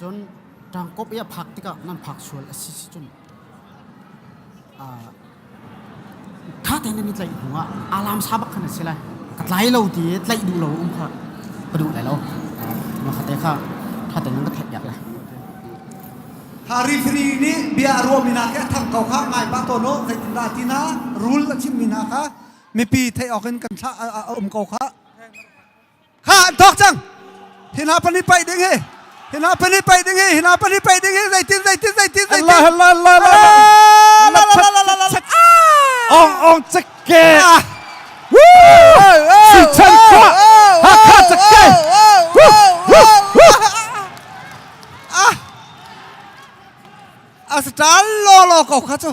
cun ṭangkop i a phak tikah nan phak sual a si si cun kha te nan i tlaih hnuah alam sa bak khan a si lai ka tlai lo ti i tlaih duh lo um kha ka duh lai lo ma kha te kha kha te nan ka theih piak lai Rifiri nih bia a ruahmi hna khi a thang ko kha ngai pah tawn u. Zeitindah ti hna rul a chimhmi hna kha mipi theih awk in kan thlah a um ko kha. Kha an thawk cang. Hi hna pan i paih ding hi. Hi hna pan i paih ding hi. Hi hna pan i paih ding hi. Zeitin, zeitin, zeitin, zeitin. Allah, Allah, Allah, Allah. Ong, ong, ceke. Sichan kwa. Hakha ceke. a star lawlaw ko kha cu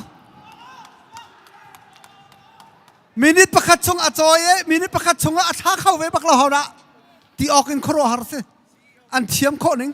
minute pakhat chung a cawi i minute pakhat chung ah a tha kho ve bak lo hona ti awk in khuaruah har si an thiam khawh ning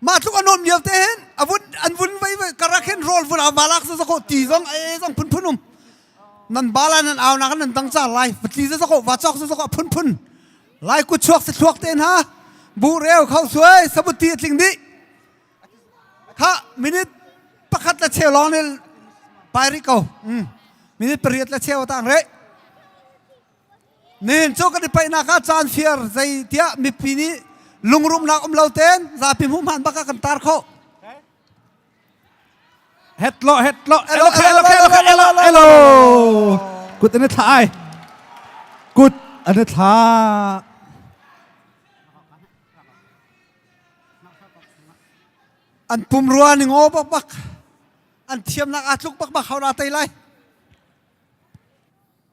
mah tluk an um lio te hin a vun an vun vai vai karak hin rol vun ama lak za ko ti zong e zong phun phun um nan bala nan au nak nan dang cha lai patli za ko va chok za ko phun phun lai ku chuak se thluak te na bu reu khau suai sabuti tling di kha minute pakhat la cheu long ne pai ri ko minute pariat la cheu tang re Nihin cu kan i paihnak ah caan fir zei tiah mipi nih lungrumnak um lo ten zapi hmuh hman bak ah kan tar khawh. Het lo, het lo. Hello, hello, hello, hello, hello. Kut an i thla ai. Kut an i thla. An pum rua ning o bak bak. An thiamnak aa tluk bak bak hau na tai lai.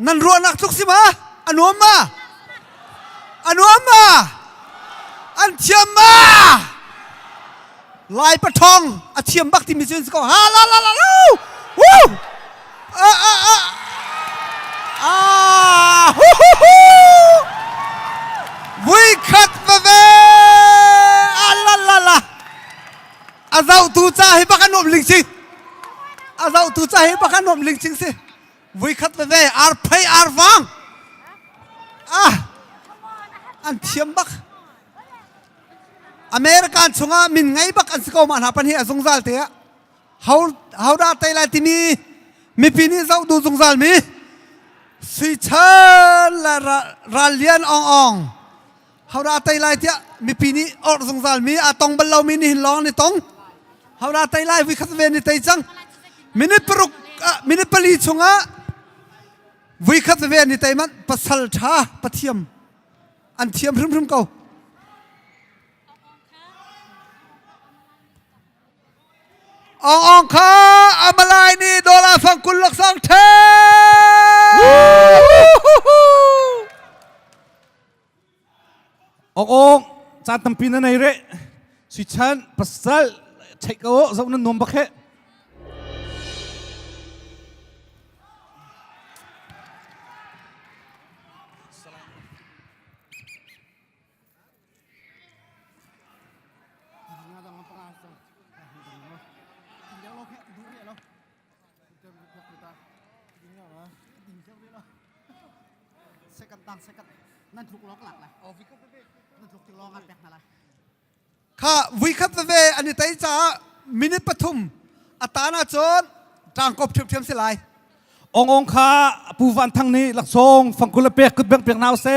Nan ruahnak cu si ma? A nuam ma? A nuam ma? An thiam ma? Lai pathawng a thiam bak timi cu si ko. Ha la la la la. Woo! Ah, ah, ah. Ah, hu, hu, hu. Vui khat veve. Ah, la la la. a zohtu ca hi bak an um ling cing a zohtu ca hi bak an um ling cing si vui khat veve ar phei ar vang ah an thiam bak american chungah min ngei bak an si ko ma hna pan hi a zungzal te ah hau hau da tai lai timi mipi nih zoh du zungzal mi sui chel la ral lian ong ong Haura tei lai tiah mipi nih orh zungzal mi a tong bal lomi nih lawng ni tong. Haura tei lai vui khat ve ni tei cang. Minute paruk ah minute pali chung ah vui khat ve ni tei man pasal tha pathiam an thiam hrimhrim ko. Ong ong kha amalai ni dollar fang kul lak sang the. Ok ok caan tampi na nei re suichan pasal check ko zo nan nuam bak he Second tang second. Nan tluk log lak la. Oh, vi khat ve. Nan tluk ti long an pek na la. Kha vui khat ve ani tai cha minute pathum atana chon tangkop thiam thiam se lai. Ong ong kha pu van thang ni laksong fangkul pek kut beng pek naw se.